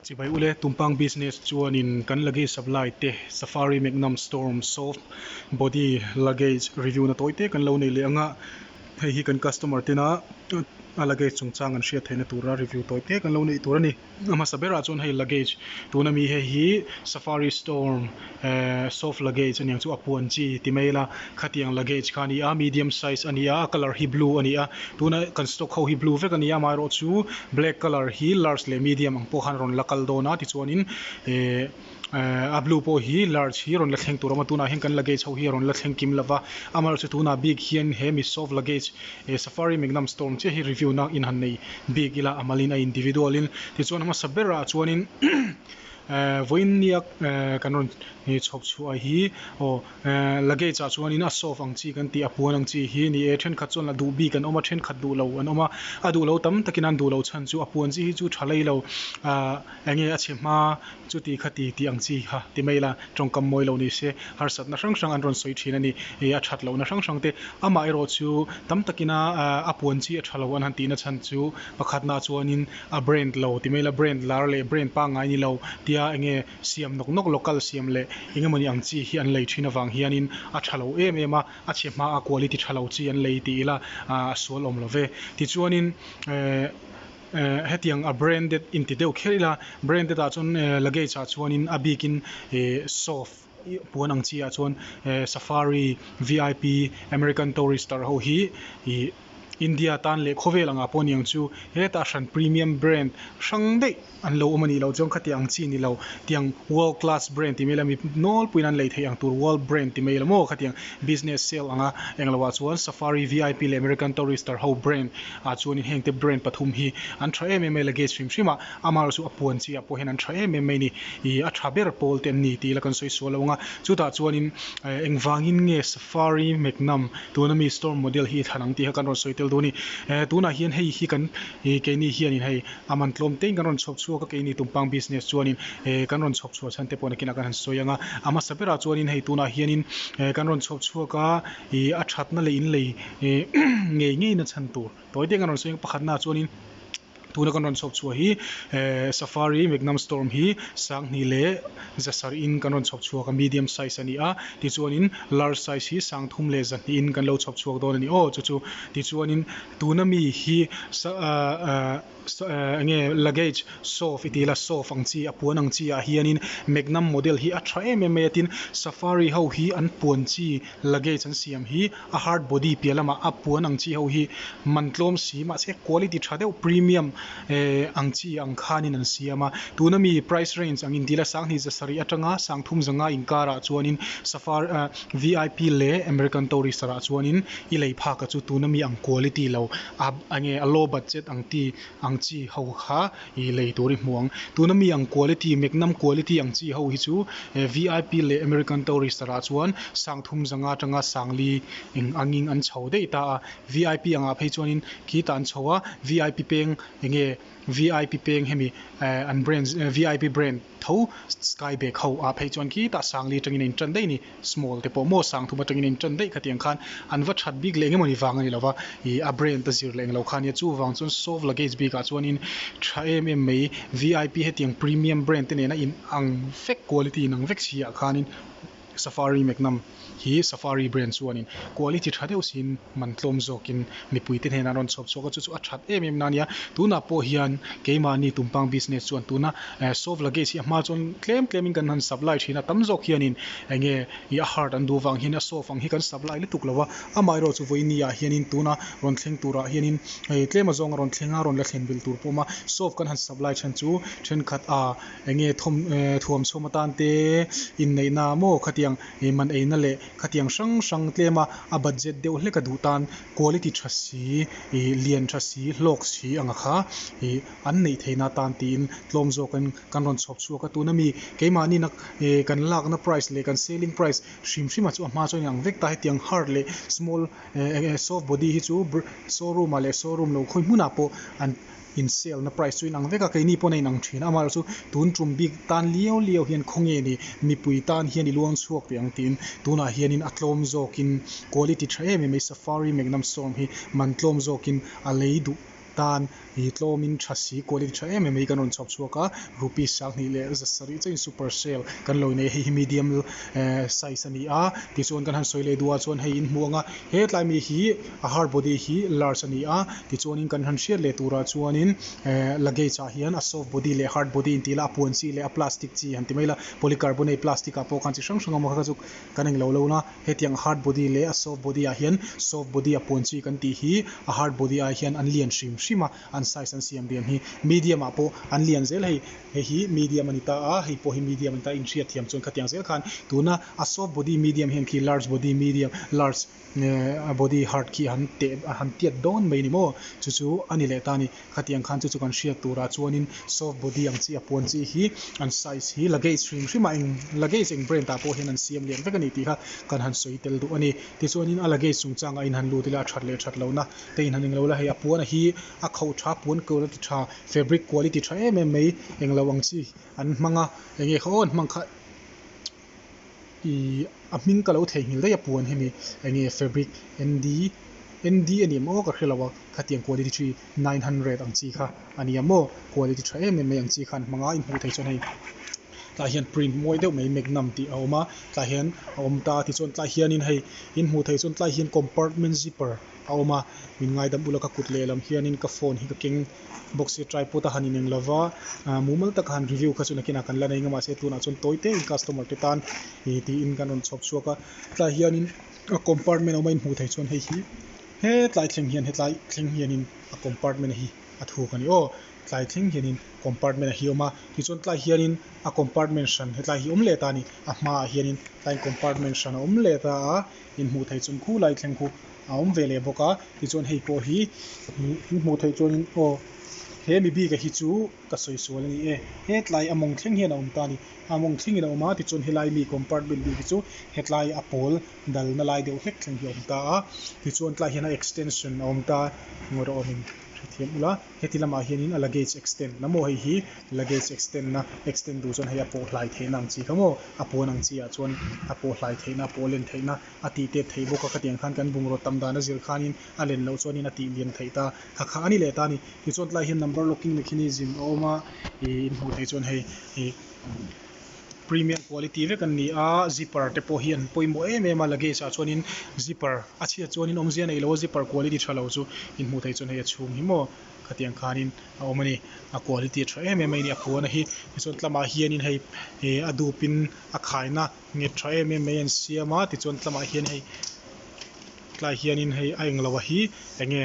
Chibai u le, Tumpang Business chuanin kan luggage supply te, Safari Magnum Storm Soft Body luggage review na tawi te kan lo nei leh ang a, hei hi kan customer ten a a luggage chungchang an hriat theihna tura review tawi te kan lo neih tur a ni. A hmasa berah chuan hei luggage tuna mi hei hi Safari Storm. Ehh, soft luggage aniang chu a puan chi ti mai ila, khatiang luggage kha ani a, medium size ani a, a colour hi blue ani a, tuna kan stock ho hi blue vek ania, amaherawh chu black colour hi large leh medium ang pawh khan a rawn la kal dawn a, tichuanin ehh a blue pawh hi large hi rawn la thleng tur a awm a, tunah hian kan luggage ho hi a rawn la thleng kim lova, amaherawh chu tunah bik hian hemi soft luggage ehh safari mingnam store ang chiah hi review na inhannei bik ila a malin a individual in, tichuan a hmasa berah chuanin. Ehh vawiin niak ehh kan rawn chhawp chhuah a hi aw ehh luggage ah chuan in a soft ang chi kan tih a puan ang chi hi ni e thenkhat chuan a duh bik an awm a thenkhat duh lo an awm a a duh lo tam takin an duh lo chhan chu a puan chi hi chu tha lei lo ahh eng nge a chhe hma chuti kha ti tih ang chi kha ti mai la tawngkam mawi lo ni se harsatna hrang hrang an rawn sawi thin a ni e a that lohna hrang hrang te amah erawh chu tam takin a ahh a puan chi a tha lo an han tihna chhan chu pakhatnaah chuan in. A brand lo ti mai ila, brand lar leh brand pangngai ni lo tia enge siam nawk nawk local siam leh engemawni ang chi hi an lei thin avang hianin a tha lo em em a, a chhe hmaa quality tha lo chi an lei tih ila a sual awm love. Tichuanin eh hetiang a branded inti deuh kher ila branded ah chuan luggage ah chuanin a bikin soft Puan ang chiahah chuan Safari VIP American Tourister ho hi ih India tan leh khawvel angah pawh niang chu heta hran premium brand hrang daih an lo awm a nih loh chuan khatiang ang chi ni lo tiang world class brand ti mai ila mi nawl puiin an lei theih ang tur world brand ti mai ila maw kha tiang business sale anga eng lohah chuan Safari VIP leh American Tourister ho brand ah chuan hengte brand pathum hi an tha em em a i luggage hrim hrim a. Amar chu a puan chi ah pawh hian an tha em em mai ni. Ih a tha ber pawl te an ni tih ila kan sawi sual lo ang a. Chutah chuanin eh eng vangin nge Safari Magnum tuna mi Storm model hi i thlan ang tih kha kan rawn sawi tel dawn a ni. Eh tunah hian hei hi kan ih keini hianin hei a man tlawm teiin kan rawn chhawp chhuak a keini tumpang business chuanin eh kan rawn chhawp chhuah chhan te pawh nakinah kan han sawi ang a. A hmasa berah chuanin hei tunah hianin eh kan rawn chhawp chhuak a ih a thatna leh inlei eh ngei ngeina chhan tur tawi te kan rawn sawi ang a. Pakhatnaah chuanin Tuna kan rawn chhawp chhuah hi Safari Magnum Storm hi sanghnih leh zasarh in kan rawn chhawp chhuak a, medium size a ni a, tichuanin large size hi sang thum leh zahnih in kan lo chhawp chhuak dawn a ni aw chu chu. Tichuanin tuna mi hi enge luggage soft i tih ila soft ang chi a puan ang chi ah hianin Magnum model hi a tha em em mai a tin Safari ho hi an puan chi Luggage an siam hi a hard body piah lamah a puan ang chi ho hi man tlawm si mahse quality tha deuh premium eh ang chi ang khanin an siam a. Tuna mi price range ang intih la sanghnih za sarih atanga sangthum za ngai inkarah chuanin safari ah vip leh American Tourister ah chuanin i lei phaka chu tuna mi ang quality lo a enge a low budget ang ti ang chi ho kha i lei tur i hmu ang. Tuna mi ang quality, meknam quality ang chi ho hi chu VIP leh American Tourister ah chuan sang thum zang atanga sangli eng angin an chho daih ta a. VIP angah phei chuanin khi ta an chho a, VIP peng enge VIP peng hemi an brand, VIP brand. Tho, Sky bag ho ah phei chuan khi tah sang li tangin a in tan daih ni, small te pawh maw sang thum atangin a in tan daih kha tiang khan an va that bik leh eng emawni vang a ni lo va, ih a brand a zir leh englo kha nia, chuvang chuan soft luggage bik ah chuanin tha em em mai VIP hetiang premium brand te nena in ang vek quality in ang vek si ah khanin Safari Meknam hi Safari brand chuanin quality tha deuh siin man tlawm zawkin mipui te hnena rawn chhawp chhuak a, chu chu a that em em na nia, tunah pawh hian keimahni tumpang business chuan tuna soft luggage hi a hma chuan tlem tlem in kan han supply thin a, tam zawk hianin eng nge i a hard an duh vang hian a soft ang hi kan supply lutuk lo a, amah erawh chu vawiini ah hian in tuna rawn thleng tur ah hian in hei tlem a zawng a rawn thleng a, rawn la thlen vel tur pawh a awm a, soft kan han supply then chu thenkhat a. Eng nge thawm thuam chhawm atan te inneihna ah maw khatiang man eina leh khatiang hrang hrang tlem a, a budget deuh hlek a duh tan quality tha si, lian tha si, hlawk si anga kha an neih thei na tan tiin tlawm zawkin kan rawn chhawp chhuak a, tuna mi keimahnina kan lakna price leh kan selling price hrim hrima chu a hma chuan a inang vek ta, hetiang hard leh small soft body hi chu show room ah leh show room lo khawi hmunah pawh an in sale na price chu in ang vek a keini pawn a in ang thin a amaherawh chu tun tum bik tan liau liau hian khaw nge ni mipui tan hian i luang chhuak teh ang tiin tunah hianin a tlawm zawkin quality tha em em mai safari magnum sawm hi man tlawm zawkin a lei duh tan i tlawmin tha si quality tha em em mai kan rawn chhawp chhuak a rupees sang hnih leh za sarih chauhin super sale kan lo inei a hei hi medium size a ni a tichuan kan han sawi leh duhah chuan hei in hmuh ang a hetlai mi hi. A hard body hi large a ni a, tichuanin kan han hriat leh turah chuanin luggage ah hian a soft body leh hard body an ti ila, a puan chi leh a plastic chi han ti mai ila, polycarbonate plastic ah pawh khan chi hrang hrang awm a, kha chu kan eng lo lo na. Hetiang a hard body leh a soft body ah hian soft body a puan chi kan tih hi a hard body ai hian an lian hrim hrim a, an size an siam rian hi medium ah pawh an lian zel hei, hei hi medium a ni ta a, hei pawh hi medium a ni ta a, inhriat thiam chuan khatiang zel khan tuna a soft body medium hian khi large body medium large a body heart khi han teh a han tiat dawn mai a ni maw? Chu chu a ni leh ta a ni. Khatiang khan chu chu kan hriat turah chuanin soft body ang chi a puan chi hi an size hi luggage hrim hrim a eng luggage eng brand ah pawh hian an siam lian vek a ni tih kha kan han sawi tel duh a ni. Tichuanin a luggage chung chang ah in han lut ila a that leh that lo na te in han englo la hei a puan hi a khauh tha puan kawr a ti tha fabric quality tha em em mai englo ang chi an hmang a enge kha aw an hmang kha Ih, a hming ka lo theihnghilh daih a puan hi mi, enge fabric, ND, ND a nih maw ka hre lo a, khatiang quality chu i nine hundred ang chi kha a nia maw, quality tha em em mai ang chi khan hmang a, in hmuh theih chuan hei tlai hian print muai deuh mai magnum tih a awm a, tlai hian a awm ta tichuan tlai hian in hei in hmuh theih chuan tlai hian compartment zipper a awm a, min ngaidam ula ka kut lehlam hianin ka phone hi ka keng bawk si, tripod a han ineng lo va, mumal taka han review kha chu nakinah kan la nei anga mahse tunah chuan tawi têin customer te tan ih tiin kan rawn chhawp chhuak a, tlaiah hianin a compartment a awm a in hmuh theih chuan hei hi he tlai thleng hian hetlai thleng hianin a compartment a hi a thuk a ni aw, tlai thleng hianin compartment a hi awm a, tichuan tlaiah hianin a compartment hran hetlai hi awm leh ta a ni, a hmaah hianin tlai compartment hran a awm leh ta a. In hmuh theih chawnh khu lai thleng khu a awm ve leh bawk a, tichuan hei pawh hi in hmuh theih chuanin aw he mi bika hi chu ka sawi sual a ni e, hetlai a mawng thleng hian a awm ta a ni, a mawng thlengin a awm a, tichuan helai mi compartment bik hi chu hetlai a pawl dalna lai deuh hlek thleng hi a awm ta a, tichuan tlaiah hian a extension a awm ta a, engawrawh a min hrethiam ula. Heti lamah hianin a luggage extend la maw hei hi luggage extend na extend tur chuan hei a pawh hlai theihna ang chi kha maw a puan ang chi ah chuan a pawh hlai theihna a pawh len theihna a tih tet thei bawk a khatiang khan kan bungraw tam dan a zir khanin a len loh chuanin a tih liam theih ta kha kha a ni leh ta a ni tichuan tlaiah hian number locking mechanism a awm a ih in hmuh theih chuan hei ih Premium quality vek an ni a, zipper te pawh hi an pawimawh em em a, luggage ah chuanin zipper a chhiat chuanin awm zia neilo zipper quality tha lo chu in hmuh theih chuan hei a chhung hi maw khatiang khanin a awm a ni, a quality a tha em em mai a ni a puana hi, tichuan tlamah hianin hei eh a dupin a khaina nghet tha em em mai a an siam a, tichuan tlamah hian hei tlaiah hianin hei a englo a hi eng nge.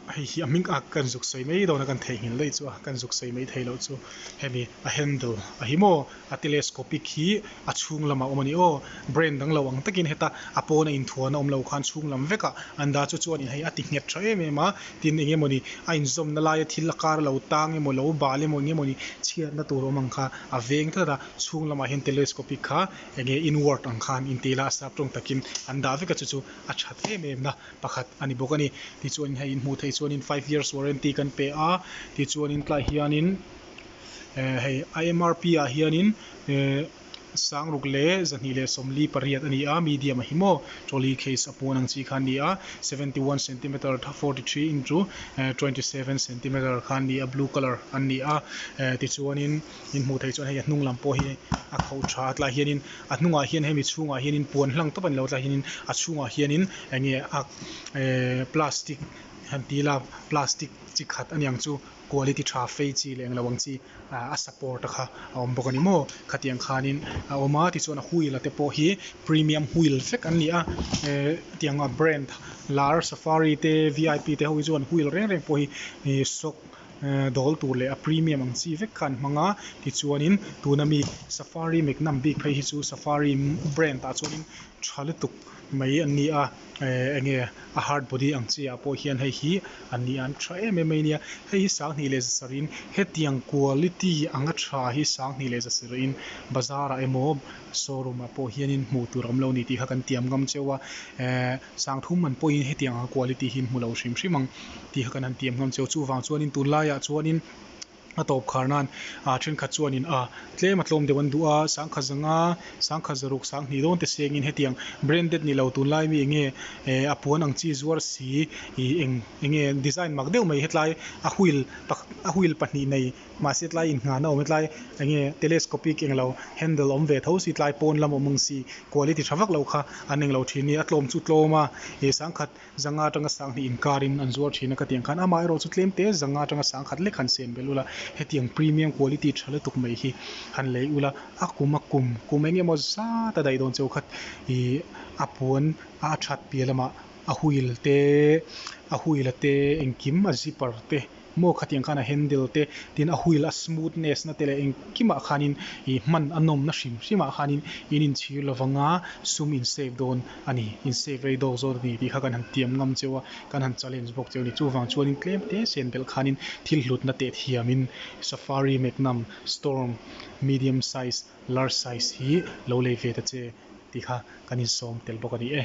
hei hi a hming a kan zuk sawi mai dawn a kan theihnghilh daih chu a kan zuk sawi mai thei loh chu hemi a handle a hi maw a telescopic hi a chhung lamah a awm a ni aw brain dang lo ang takin heta a pawn a inthuah na awm lo khan chhung lam vek a an dah chu chuan in hei a ti nghet tha em em a tin eng emaw ni a inzawm na lai a thil a kar a lo tang emaw lo bal emaw eng emaw ni chhiat na tur awm ang kha a veng tlat a chhung lamah hian telescopic kha enge inward ang khan intih ila a sap tawng takin an dah vek a chu chu a that em em na. pakhat a ni bawk a ni. Tichuanin hei in hmuh theih chuanin five years warranty kan pe a, tichuanin tlaiah hianin eh hei a mrp ah hianin eh sang ruk leh zahnih leh sawmli pariat a ni a, medium a hi maw, trolley case a pawn ang chi kha an ni a, seventy one centimeter tha forty three into eh twenty seven centimeter kha an ni a, blue colour an ni a eh tichuanin. min hmuh theih chuan hei a hnung lam pawh hi a kho tha a tlaiah hianin a hnungah hian hemi chhungah hianin puan hlang tawp a ni lo tlaiah hianin a chhungah hianin eng nge a eehh plastic han ti ila plastic chi khat a niang chu quality tha fei chi leh englo ang chi ahh a support a kha a awm bawk a ni maw khatiang khanin a awm a tichuan a wheel a te pawh hi premium wheel vek an ni a eehh tianga brand lar safari te V I P te ho hi chuan wheel reng reng pawh hi ihh shock -- Ehh dawl tur leh a premium ang chi vek kha an hmang a tichuanin tuna mi safari meknam bik phei hi chu safari brand ah chuan in tha lutuk mai an ni a ehh eng nge a hard body ang chi ah pawh hian hei hi an ni a an tha em em mai a nia hei hi sanghnih leh zasarih in hetiang quality anga tha hi sanghnih leh zasarih in bazar ah emaw-- Showroom ah pawh hianin hmuh tur awm lo ni tih kha kan tiam ngam cheu a, eeh sangthum man pawhin hetiang anga quality hi hmu lo hrim hrim ang tih kha kan han tiam ngam cheu. Chuvang chuanin tunlai ah chuanin a tawp khar nan ah thenkhat chuanin ah tlem a tlawm deuh an duh a, sangkhat zanga sangkhat zaruk sang hnih dawnte sengin hetiang branded ni lo tunlai ami enge eeh a puan ang chi zuar si ih eng enge design mak deuh mai hetlai a wheel a wheel pahnih nei Mahse tlai inhngahna awm e tlai enge telescopic englo handle awm ve tho si tlai pawn lam awm ang si quality tha vak lo kha an englo thin ni a tlawm chu tlawm a ih sangkhat zanga atanga sanghnih inkarin an zuar thin a ka ti ang khan amah erawh chu tlem te zanga atanga sangkhat lek han sen bel ula hetiang premium quality tha lutuk mai hi han lei ula a kum a kum kum eng emaw zat a daih dawn cheu khat ih a puan a a that piah lamah a huil te a huila te engkim a zipper te. Maw khatiang khan a handle te, tin a wheel a smoothness na te leh engkimah khanin ih hman a nawmna hrim hrimah khanin in inchhir lovanga sum in save dawn a ni, in save rei dawk zawt a ni tih kha kan han tiam ngam cheu a, kan han challenge bawk cheu a ni. Chuvang chuanin tlem te sen belh khanin thil hlutna teh thiamin Safari Magnum Storm medium size, large size hi lo lei ve ta che tih kha kan insawm tel bawk a ni e.